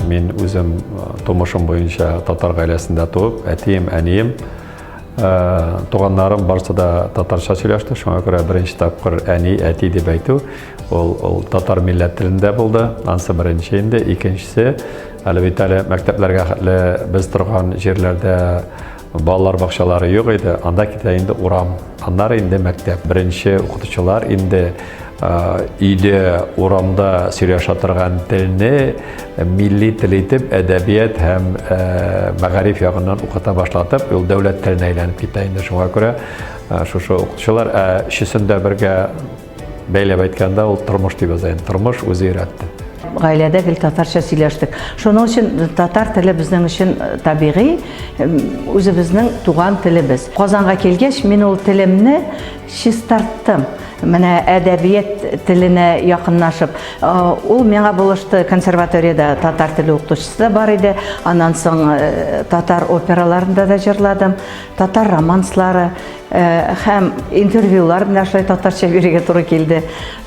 Мин үзем тумышым буенча татар гаиләсендә туып, әтием, әнием, туганнарым барысы да татарча сөйләште. Шуңа күрә беренче тапкыр әни, әти дип әйтү ул, ул татар милләт телендә булды. Ансы беренче инде, икенчесе әле бит әле мәктәпләргә хәтле без торган җирләрдә Балалар бакчалары юк иде, анда китә инде урам, аннары инде мәктәп. Беренче укытучылар инде өйдә, урамда сөйләшә торган телне милли тел итеп, әдәбият һәм мәгариф ягыннан укыта башлатып, ул дәүләт теленә әйләнеп китә инде. Шуңа күрә шушы укытучылар, ә өчесен дә бергә Бәйләп әйткәндә, ул тормыш дип яза. Тормыш үзе өйрәтте. Гаиләдә гел татарча сөйләштек. Шуның өчен татар теле безнең өчен э, табигый, үзебезнең туган телебез. Казанга килгәч, мин ул телемне чистарттым. Менә әдәбият теленә якыннашып, э, ул миңа булышты консерваториядә татар теле укытучысы да бар иде. Аннан соң э, татар операларында да җырладым, татар романслары һәм интервьюлар менә шулай татарча бирергә туры килде.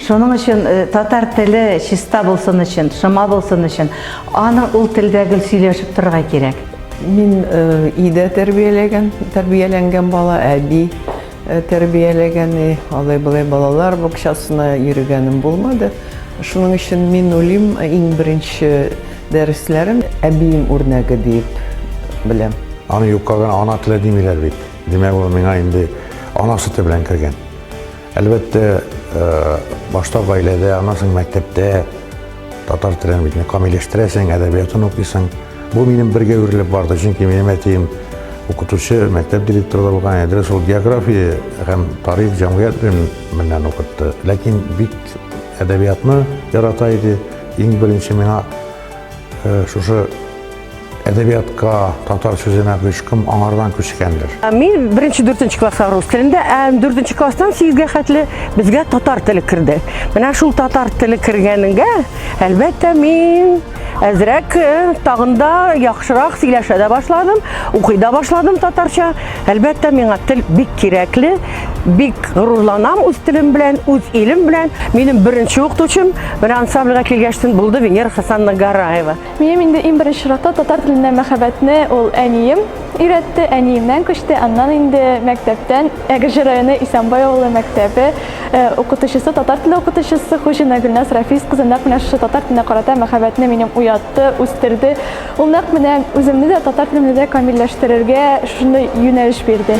Шуның өчен татар теле чиста булсын өчен, шома булсын өчен, аны ул телдә гел сөйләшеп торырга кирәк. Мин өйдә тәрбияләгән, тәрбияләнгән бала, әби тәрбияләгән, алай-болай балалар бакчасына йөргәнем булмады. Шуның өчен мин уйлыйм, иң беренче дәресләрем әбием үрнәге дип беләм. Аны юкка гына ана теле димиләр бит. Димәк, ул миңа инде ана сөте белән кергән. Әлбәттә, э, башта гаиләдә, анасың мәктәптә татар телен бит камилләштерәсең, әдәбиятын укыйсың. Бу минем бергә үрелеп барды, чөнки минем әтием укытучы, мәктәп директоры да булган, әдре шул география һәм тарих җәмгыять белемнән укытты. Ләкин бик әдәбиятны ярата иде. Иң беренче миңа э, шушы әдәбиятка татар сүзенә гөшкем аңардан күчкәндер. Ә мин беренче дүртенче класска рус телендә, ә дүртенче класстан сигезгә хәтле безгә татар теле керде. Менә шул татар теле кергәнгә, әлбәттә, мин әзрәк э, тагында яхшырак сөйләшә дә башладым, укый да башладым татарча. Әлбәттә, миңа тел бик кирәкле, бик горурланам үз телем белән, үз илем белән. Минем беренче укытучым менә ансамбльгә килгәчтен булды Венера Хасанна Гараева. Минем инде иң беренче чиратта татар теленә мәхәббәтне ул әнием өйрәтте, әниемнән күчте, аннан инде мәктәптән Әгерҗе районы Исәнбай авылы мәктәбе укытучысы, татар теле укытучысы Хуҗина Гөлназ Рафис кызы нәкъ менә шушы татар теленә карата мәхәббәтне минем уятты, үстерде. Ул нәкъ менә үземне дә, татар телемне дә камилләштерергә шундый юнәлеш бирде.